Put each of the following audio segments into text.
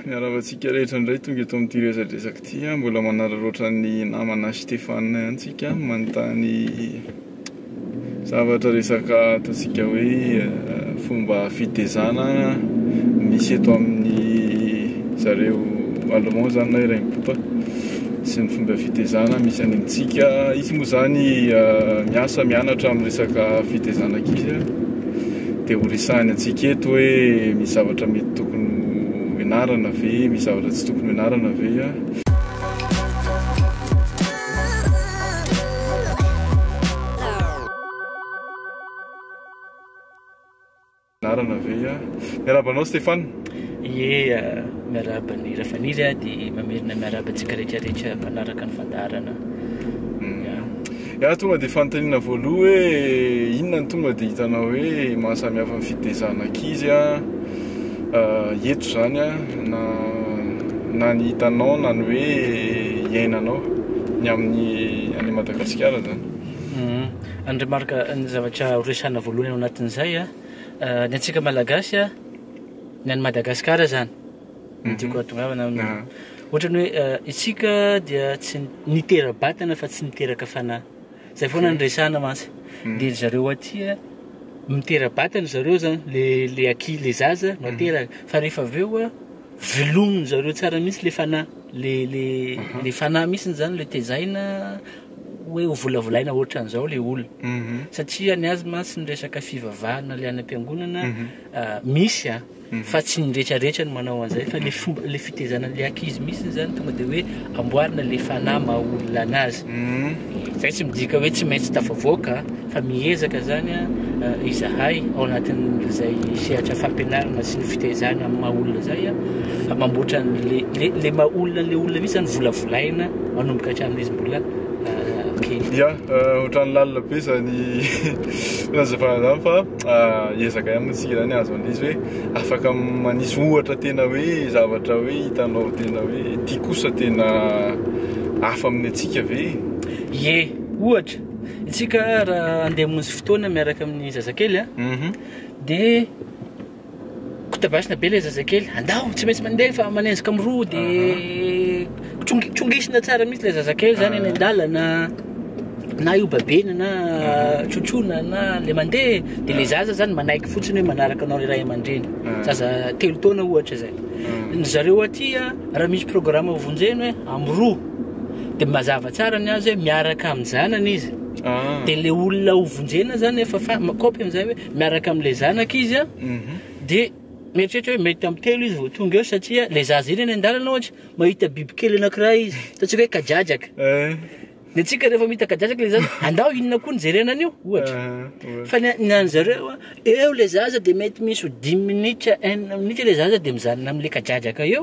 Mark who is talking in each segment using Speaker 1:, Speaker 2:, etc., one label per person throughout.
Speaker 1: Miarahaba antsika rehetra indray tonga eto amin'ity resadresaka ity. Mbola manararaotra ny namana Stéphane ihany tsika manontany zavatra resaka ataontsika hoe eh, fomba fitezana misy eto amin'ny zareo allemand zany na iray mipopa sy ny fomba fitezana misy any amintsika. Izy moa zany eh, miasa mianatra amin'ny resaka fitezana ankizy. Dia ho resahiny antsika eto hoe misy zavatra mety tokony ho ianarana ve, misy zavatra tsy tokony ho ianarana ve. Miarahaba anao Stéphane. Ie,
Speaker 2: miarahaba an'i Rafaniry aho dia mamerina miarahaba antsika rehetrarehetra mpanaraka ny fandaharana. Iah
Speaker 1: tonga dia fanontaniana voaloha hoe inona no tonga dia hitanao hoe mahasamihafa ny fitezana ankizy eto izany na na ny hitanao na ny hoe iainanao ny amin'ny any Madagasikara izany. Mhm. Ny
Speaker 2: remarque ny zavatra horesahana voalohany ao anatin'izay a, ny antsika Malagasy a, ny any Madagasikara izany. ny tiako hahatongavana amin'ny ohatrany hoe eh, isika dia tsy nitera-batana fa tsy niteraka fanahy zay foana ny resahana mantsy mm. dia zareo aty eh, mitera-batana zareo zany le le aki le zaza no mm. ateraka fa rehefa avy eo a eh, velominy zareo tsara mihitsy le fanahy le le mhm. le fanahy mihitsiny zany le tezaina hoe ho volavolaina ohatran'izao le olona mhm. satria ny azy mantsy ny resaka fivavahana le any am-piangonana mhm. ah, misy a ah. fa tsy ny retraretra no manao an'izay fa le fomba le fitezana an'le akizy misy zany tonga de hoe amboarina le fanahy maha olona anazy mm. zay tsy midika hoe tsy maintsy tafavoaka fa mihezaka zany a eh, izahay ao anatin'izay sehatra fampianarana sy ny fitezana amin'ny maha olona zay a ah, mamboatra an'le le, le maha olona le olona misy zany volavolaina manomboka hatramin'izy mbola eh, kely ya eh,
Speaker 1: ohatran'ny lalina be zany nazavana zany fa ezaka ihany mantsika izany azo andiso hoe afaka manisy ohatra tena hoe zavatra hoe hitanao tena hoe ty kosa tena hafa amin'ny antsika ve? Ie,
Speaker 2: ohatra, isika raha andeha hamonjy fotoana miaraka amin'ny zazakely, dia Kotabasina be ilay zazakely, andao tsy maintsy mandefa, manenjika miroa dia cong- congisina tsara mihitsy ilay zazakely zany any an-dalana na io babena na trotroina na le mandeha dia le zaza zany manaiky fotsiny hoe manaraka anao le ray aman-dreny. Zaza telo taona ohatra zay. Ny zareo aty a, raha misy programa vonjeny hoe amiroa dia mazava tsara ny azy hoe miaraka amin-janany izy. Dia le olona ho vonjena zany efa fa- mikaopy an'izay hoe. miaraka amin'ilay zanaka izy a, dia mieritreritra hoe mety tamin'ny telo izy vao tonga eo satria ilay zaza iny any an-dalana ohatra, mahita bibikely anankiray izy, ataontsika hoe kadradraka. Ny antsika rehefa mahita kadradraka ilay zaza, andao inona koa no jerena an'io? Ohatra. Fa ny a- ny an'ny zareo a, eo ilay zaza dia mety misy ho dimy minitra, enina minitra ilay zaza dia mijanona amin'ilay kadradraka eo,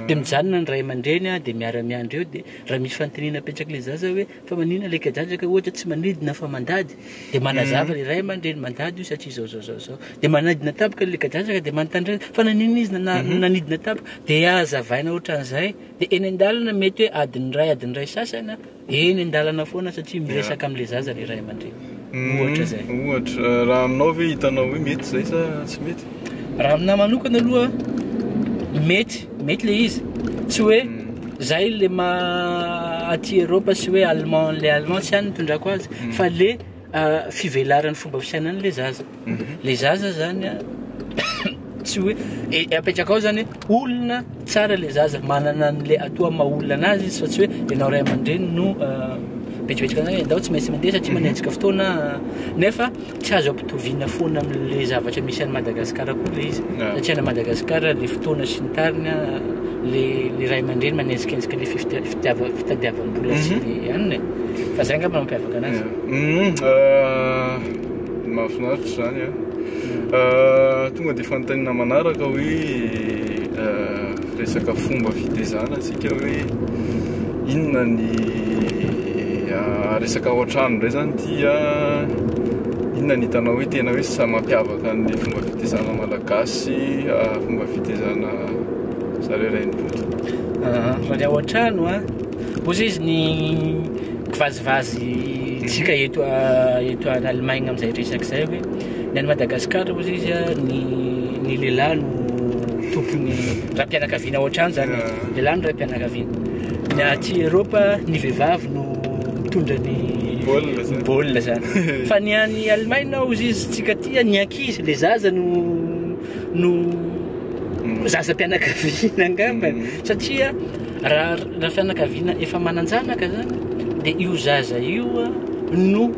Speaker 2: dia mijanona ny ray aman-dreny a, dia miara-miandry eo, dia raha misy fanontaniana apetraka ilay zaza hoe. Fa maninona ilay kajanjaka ohatra tsy manidina fa mandady dia manazava ry ray aman-dreny mandady io satria izao izao izao izao dia manadina tampoka ilay kajanjaka dia manontany ray fa naninona izy na- mhm. nanidina tampoka dia hazavaina ohatran'izay dia eny an-dalana mety hoe adin'ny ray adin'ny ray sasana eny an-dalana foana satria miresaka amin'ilay zaza ry ray aman-dreny Mm, Ohatra izay. Ohatra, eh, raha aminao
Speaker 1: ve hitanao hoe mety izay sa tsy mety? Raha aminahy manokana
Speaker 2: aloha mety, mety le izy. Tsy hoe Mm. zay le ma aty Europe sy hoe allemand le allemand tsy any ny tondrako azy fa le ah, fivelaran'ny fomba fisainan'le zaza. Mhm. Le zaza zany a tsy hoe e, e, apetraka ao zany hoe olona tsara le zaza manana an'le atoa maha olona anazy izy fa tsy hoe ianao ray aman-dreny no ah, betsibetsika anao hoe ndao tsy maintsy mandeha satria mhm. manenjika fotoana ah. nefa tsy azo ampitoviana foana amin'le zavatra misy any Madagasikara koa le izy ah. satria any Madagasikara le fotoana sy ny tariny le le ray aman-dreny manenjikenjika le fitadiavam-bola sy mhm. le anina e. fa zay angamba mampiavaka anazy mhm. euh,
Speaker 1: Mahafinaritra izany an! Ah, tonga dia fanontaniana manaraka hoe ah, resaka fomba fitezana tsika hoe inona ny ah, resaka ao an-trano indray izany ity ah, inona ny hitanao hoe tena hoe samy mampiavaka ny fomba fitezana malagasy ah, fomba fitezana zareo rainimpolo. Ah,
Speaker 2: raha ny ao an-trano an. Ozy izy ny kivazivazy tsika eto eto an Allemagne amin'izay resaka izay hoe ny any Madagascar ozy izy ny ny lehilahy no tompony raim-pianakaviana ohatrany zany lehilahy no raim-pianakaviana ny aty Europa ny vehivavy no mitondra ny baolina zany fa ny any Allemagne ozy izy tsika aty ny ankizy le zaza no no zaza-pianakaviana angamba satria Raha fianakaviana efa manan-janaka zany dia io zaza io no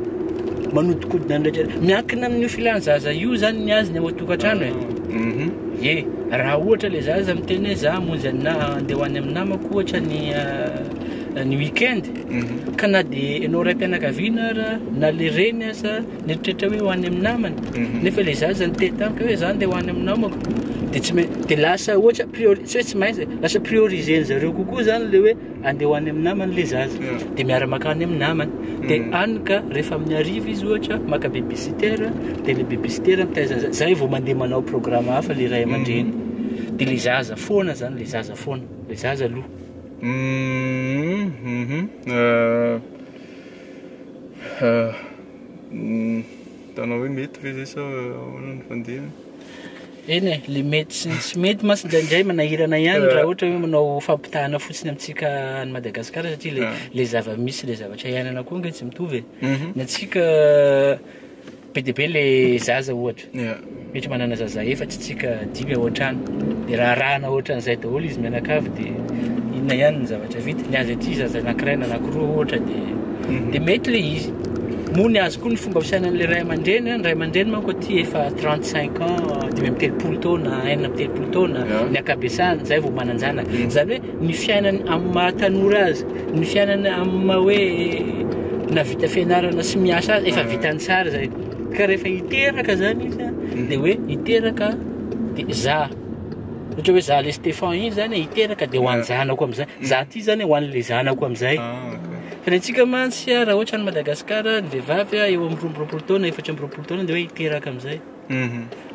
Speaker 2: manodikodina ny rehetra. Miankina amin'io filan'ny zaza io zany ny azy ny ao an-tokantrano e. Mhm. Ye, raha ohatra le zaza miteny hoe za hamonjy an'ny na- handeha ho any amin'ny namako ohatra ny ah, ny week-end Mhm. ka na dia ianao raim-pianakaviana ara na le reny aza Nieritreritra hoe ho any amin'ny namany, mhm. nefa ilay zaza niteny tamiko hoe zany dia ho any amin'ny namako, dia tsy maintsy dia lasa ohatra priori tsy hoe tsy maintsy lasa prioriser zareo kokoa zany le hoe andeha ho any amin'ny namany le zaza, dia miara maka any amin'ny namany, dia mhm. any ka rehefa amin'ny arivo izy ohatra maka babysitter, dia le babysitter mitaiza zaza, zay vao mandeha manao programme hafa le ray aman-dreny, mhm. dia le zaza foana zany le zaza foana, le zaza aloha. Euh,
Speaker 1: Mitana hoe mety ve zay sa ahoana ny fandehany? Eny e,
Speaker 2: le mety sy ny tsy mety mantsy indraindray manahirana ihany raha ohatra hoe manao fampitahana fotsiny amintsika any Madagasikara satria le le zava-misy le zavatra iainana koa ange tsy mitovy e. Ny antsika Be dia be le zaza ohatra. Yeah. Ohatra manana zaza efatsy tsika dimy ao an-trano. Dia raharahana ohatran'izay daholo izy mianakavy dia inona ihany ny zavatra vita. Ny azy aty zaza anankiray na anankiroa ohatra dia Mhm. dia mety le izy. Moa ny azy koa ny fomba fisainan'ilay ray aman-dreny, ny ray aman-dreny manko aty efa 35 ans, dimy amby telopolo taona, enina amby telopolo taona, Yeah. ny ankabesahany, izay vao manan-janaka. Mhm. Izany hoe ny fiainany amin'ny maha tanora azy, ny fiainany amin'ny maha hoe navita fianarana sy miasa azy, efa vitany tsara izay. Ka rehefa hiteraka zany izy mhm. dia hoe hiteraka dia za ohatra hoe za le Stéphane iny zany hiteraka dia ho an'ny zanako amin'izay, mhm. za ty zany ho an'le zanako amin'izay. Ah, Fa ny antsika mantsy raha ohatra ny Madagasikara ny vehivavy eo amin'ny roa amby roapolo taona, efatra amby roapolo taona dia hoe hiteraka amin'izay.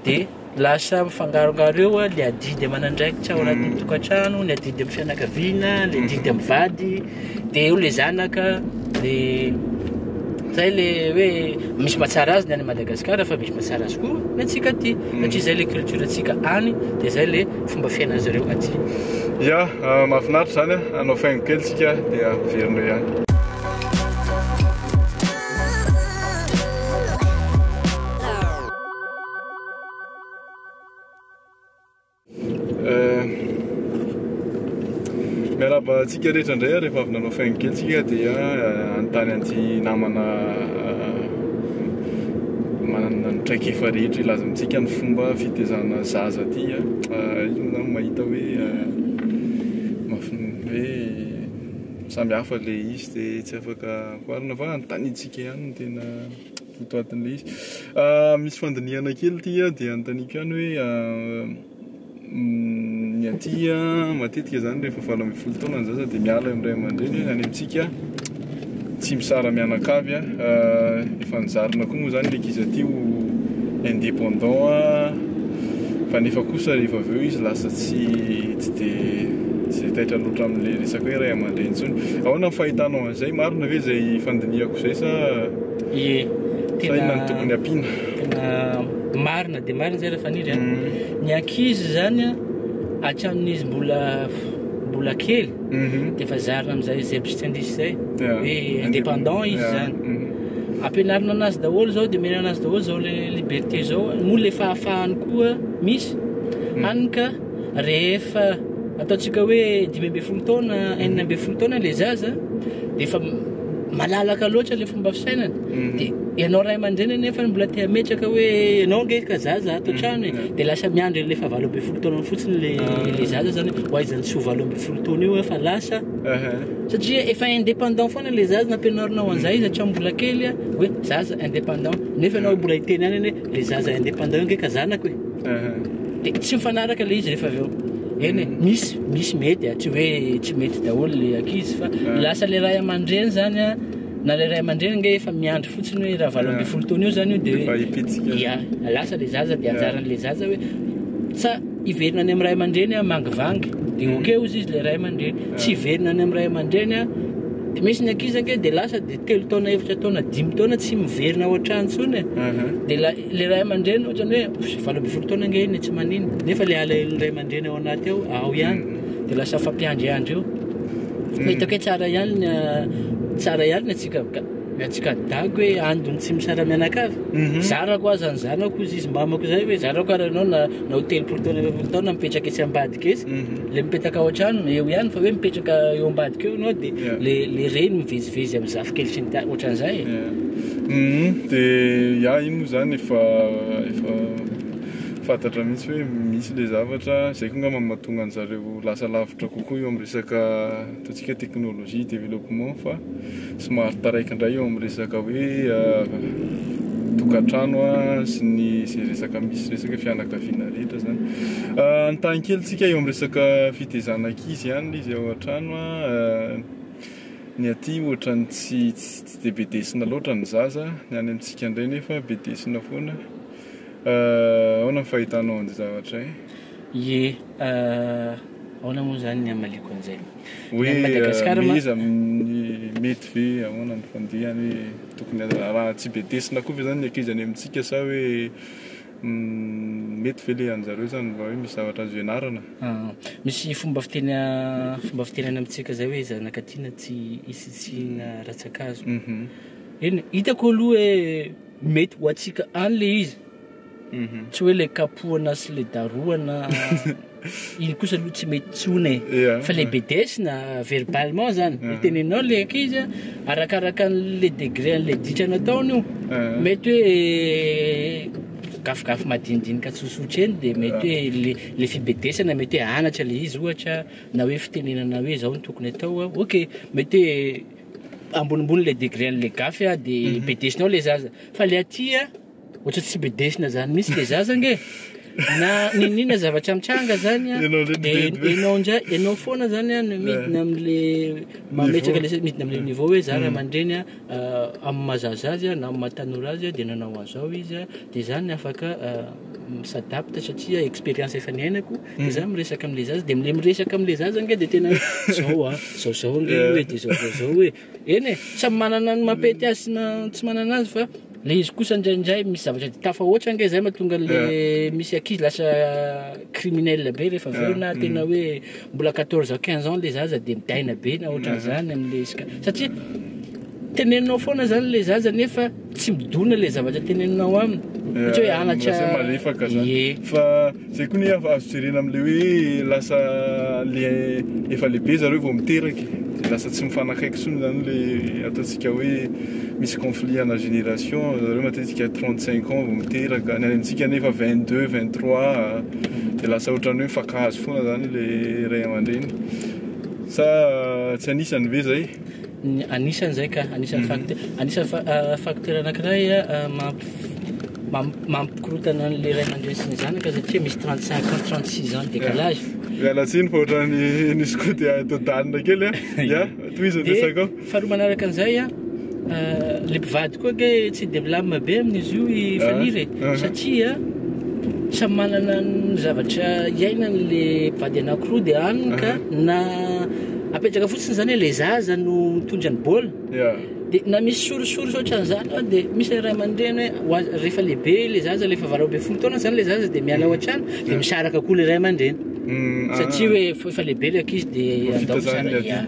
Speaker 2: dia lasa mifangarongaro eo ny adidy aman'andraikitra ao anatin'ny mm. tokantrano, ny adidy amin'ny fianakaviana, ny mm. adidy amin'ny vady, dia eo le zanaka, dia zay le hoe misy mahatsara azy ny any Madagasikara fa misy mahatsara azy koa ny antsika aty mm. satria zay le culture antsika any dia zay le fomba fiainan'izy ireo aty. Ya, ah,
Speaker 1: mahafinaritra zany, anao ah, faingo kely tsika dia miverina ihany. Miarahaba antsika rehetra indray rehefa avy nanao faingo kely tsika dia eh, anontany an'ity namana eh, manana ny traikefa rehetra hilaza amintsika ny fomba fitezana zaza ty eh. ah, inona mahita hoe mafin hoe samy hafa le izy dia tsy afaka Marina fa antanintsika ihany no tena votoatin'ilay izy. Ah, misy fandinihana kely ity ah, dia antaniko ihany hoe ah, mm, ny aty ah, matetika izany rehefa valo ambin'ny folo taona ny zaza dia miala eo amin'ny ray aman-dreny, any amintsika tsy misara mianakavy ah, ah, efa nizarina koa moa izany ilay ankizy aty ho indépendant ah, fa nefa kosa rehefa avy eo izy lasa tsy tsy dia tsy dia taitra loatra amin'ilay resaka hoe ray aman-dreny intsony. Ahoana ny fahitanao an'izany? Zay marina ve zay fandinihako zay sa Ie, sa inona no tokony ampiana? tena
Speaker 2: marina dia marina zay Rafaniry a. Mhm. Ny ankizy izany a, hatramin'izy mbola mbola kely Mhm. dia efa zarina amin'izay zebstendis zay Yeah. hoe indépendant izy Yeah. zany. Mhm. Ampianarina anazy daholo izao dia omena anazy daholo izao le liberté izao moa le fahafahany koa misy hany ka rehefa ataontsika hoe dimy ambin'ny folo taona enina ambin'ny folo taona le zaza dia efa malalaka loatra le fomba fisainana mhm. dia ianao ray aman-dreny nefa mbola te hametraka hoe ianao nge ka zaza ato mhm. trano e mhm. dia lasa miandry an'le fa valo ambin'ny folo taona fotsiny le ah. le zaza zany ho aizany tsy ho valo ambin'ny folo taona io efa lasa satria efa indépendant foana le zaza nampianarinao an'izay izy hatramin'ny mbola kely hoe zaza indépendant nefa ianao mbola hiteny any anie Le zaza indépendant io nge ka zanako e. De tsy mifanaraka le izy rehefa avy eo. Eny e, misy misy mety a, tsy hoe tsy mety daholo le ankizy fa lasa le ray aman-dreny zany a, na le ray aman-dreny nge efa miandry fotsiny hoe raha valo ambin'ny folo taona eo zany io de hoe ya, lasa le zaza de anjaran'le zaza hoe sa hiverina any amin'ny ray aman-dreny a mangivangy de ok hozy izy le ray aman-dreny, tsy hiverina any amin'ny ray aman-dreny a, de misy ny ankizy ange de lasa de. telo taona efatra taona dimy taona tsy miverina ao an-trano intsony e. dia ilay ilay ray aman-dreny ohatrany hoe valo ambin'ny folo taona ange iny e, tsy manino nefa ilay alahelo ray aman-dreny ao anaty ao ao ihany mm. dia lasa fampiandriandry eo mm. hitako hoe tsara ihany ny ah, tsara ihany ny atsika atsika dago hoe andony tsy misara mianakavy mhm. zarako aza ny zanako izy izy mbamako izay hoe zarako ary ianao na nao telopolo taona efapolo taona mipetraka etsy ambadika etsy mhm. le mipetaka ao an-trano eo ihany fa hoe mipetraka eo ambadika eo ianao dia Yeah. le le reny mivezivezy amin'ny zafikely sy ny ta- ohatran'izay e. Mhm, de
Speaker 1: ya iny moa zany efa efa fantatra mihitsy hoe misy le zavatra zay ko ngamba no mahatonga an'zareo lasa lavitra kokoa eo amin'ny resaka Ataontsika technologie développement fa somary taraiky indray eo amin'ny resaka hoe tokantrano sy ny izay resaka misy resaka fianakaviana rehetra izany. Nitany kely tsika eo amin'ny resaka fitezana ankizy ihany izy ao an-trano. Ny aty ohatra ny tsy tsy dia be desina loatra ny zaza, ny any amintsika indray nefa be desina foana. Ahoana ny fahitanao an'izay zavatra izay? Ye eh,
Speaker 2: ahoana moa izany ny hamaliako an'izay? Ny an'i Madagasikara
Speaker 1: ma. Hoe iza amin'ny mety ve, ahoana ny fandihany hoe tokony araha tsy bedesina koa ve izany ny ankizy any amintsika sa hoe mety ve ilay an'zareo izany mba hoe misy zavatra azo ianarana? Ah, misy
Speaker 2: fomba fiteny fomba fiteny any amintsika izay hoe zanaka tiana tsy isitsiana rantsa-kazo. Eny, hitako aloha hoe mety ho antsika any ilay izy. Mhm. tsy hoe le kapohana sy le darohana iny kosa aloha tsy mety tsony e Yeah. fa le bedesina verbalement zany Mhm. tenenao le ankizy a, arakaraka an'le degré an'le ditra nataony io Eh. mety hoe gafigafy madinidinika tsotsotra eny de mety hoe le le fibedesana mety hoe anatra le izy ohatra na hoe fitenenana hoe zao no tokony atao a ok mety hoe ambonimbony le degré an'le gafy a de bedesinao le zaza fa le aty a Ohatra tsy bedesina zany mihintsy le zaza ange e! Na n'inon'inona zavatra mitranga zany an, Ianao indray no dia bedbe. ianao indray, ianao foana zany an no midina amin'le mametraka le, midina amin'le niveau hoe za ray aman-dreny an, amin'ny maha zaza azy an na amin'ny maha tanora azy an dia nanao an'izao izy an, dia za ny afaka mi s'adapte satria expérience efa niainako, dia za miresaka amin'le zaza, dia le miresaka amin'le zaza ange dia tena hoe zao an, zao zao ange io e, dia zao zao zao e. Eny e, samy manana ny mampety azy sy na tsy manana azy fa le izy kosa indraindray misy zavatra de tafahoatra ange zay mahatonga le eh. misy ankizy lasa criminel be rehefa avy eo eh. na mm. tena hoe mbola 14 ans 15 ans le zaza de midaina be na ohatran'izany eh. am'le isika satria tenenao foana zany le zaza nefa Tsy midona le zavatra teneninao aminy ohatra hoe anatra lasa malefaka zany ye
Speaker 1: fa zay koa nefa azo jerena amle hoe lasa le efa lehibe zareo vao miteraka e de lasa tsy mifanakaiky tsony zany le ataontsika hoe misy conflit ana génération zareo matetika trente cinq ans vao miteraka ny any amintsika nefa vingt deux vingt trois de lasa ohatran'ny hoe mifankahazo foana zany le ray aman-dreny sa tsy anisany ve zay? Anisan'
Speaker 2: izay ka, anisan'ny fac- anisan'ny fa- ah, facteur anankiray ah, mamp- mam- mampikorontana an'ilay ray aman-dreny sy ny zanaka satria misy 35 ans, 36 ans décalage. Miala tsiny fa
Speaker 1: ohatran'ny nisy koa dia todanina kely a. Ya, tohizo ny Dia, resakao. faharoa manaraka an'izay
Speaker 2: a, ah, le mpivady koa ke tsy dia milamina be amin'izy io i Ah, Faniry e. ah. Satria samy manana ny zavatra iainany le mpivady anankiroa dia any ka Ah. na apetraka fotsiny zany hoe le zaza no mitondra ny baolina yeah. de na misy sorisory ohatran'izany an de misy le ray aman-dreny hoe rehefa lehibe le zaza lefa valo ambin'ny folo taona zany le zaza de miala ao mm. an-trano de mm. misaraka koa le ray aman-dreny mm, ah. satria hoe efa lehibe le akizy de andao misaraka ya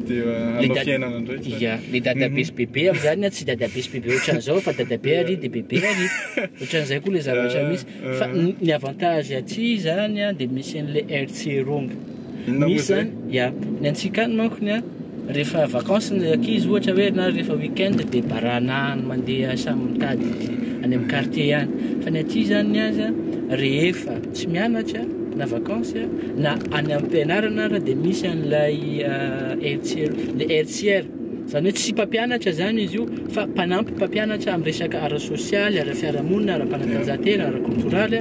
Speaker 2: ya le dadabe sy bebe am'zany tsy dadabe sy bebe ohatran'izao fa dadabe ary de bebe ary ohatran'izay koa le zavatra misy Fa Mhm. ny- ny avantage aty zany a, dia misy an'ilay Herzerung. Inona moa Misy izay? zany, ya, ny antsika any manko ny a, rehefa vacances ny ankizy ohatra hoe na rehefa week-end dia barana any mandeha samy mitady any amin'ny quartier any. Fa ny aty zany ny azy a, rehefa tsy mianatra na vacances a, na any am-pianarana ara dia misy an'ilay ah, Herzer- le Herzier. Izany hoe tsy mpampianatra izany izy io fa mpanampy mpampianatra amin'ny resaka ara-sosialy, ara-piarahamonina, ara-panatanjahantena, ara-koltoraly.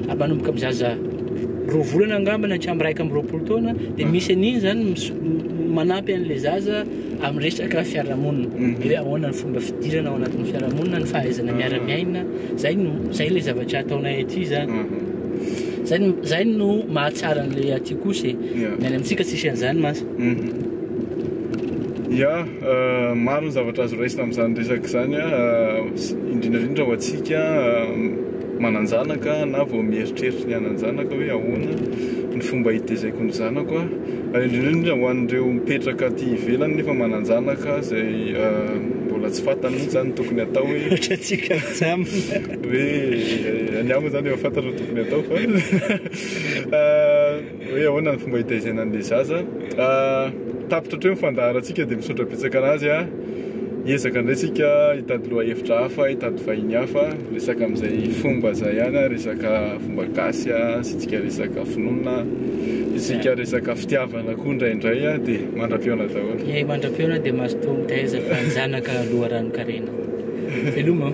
Speaker 2: Manomboka amin'ny zaza roa volana angamba na hatramin'ny iraika amby roapolo taona dia misy an'iny izany manampy an'ilay zaza amin'ny resaka fiarahamonina. Mhm. Hoe ahoana ny fomba fidirana ao anatin'ny fiarahamonina, ny fahaizana miara-miaina. Izay no izay ilay zavatra ataonay aty izany. Mhm. Izay no izay no mahatsara an'ilay aty kosa e. Ny any amintsika tsisy an'izany mantsy. Ya,
Speaker 1: maro ny zavatra azo raisina amin'izany resaka izany, indrindra indrindra ho antsika manan-janaka na vao mieritreritra ny hanan-janaka hoe ahoana ny fomba hitezaiko ny zanako aho, ary indrindra indrindra ho an'ireo mipetraka aty ivelany nefa manan-janaka izay mbola tsy fantany mihitsy izany ny tokony hatao hoe, ohatra antsika mijanona,
Speaker 2: hoe
Speaker 1: ny amiko izany efa fantatra ny tokony hatao fa. Hoe ahoana ny fomba hitaizena an'ilay zaza. Tapitra hatreo ny fandaharantsika dia misaotra betsaka an'azy a! Hiezaka indray tsika hitady lohahevitra hafa, hitady vahiny hafa, resaka amin'izay fomba izay ihany a! Resaka fomba gasy a, asiantsika resaka finoana, asiantsika resaka fitiavana koa indraindray a! Dia mandra-pihaona daholo. Eh, mandra-pihaona
Speaker 2: dia mazotoa mitaiza fa ny zanaka loharanon-karena. Veloma o!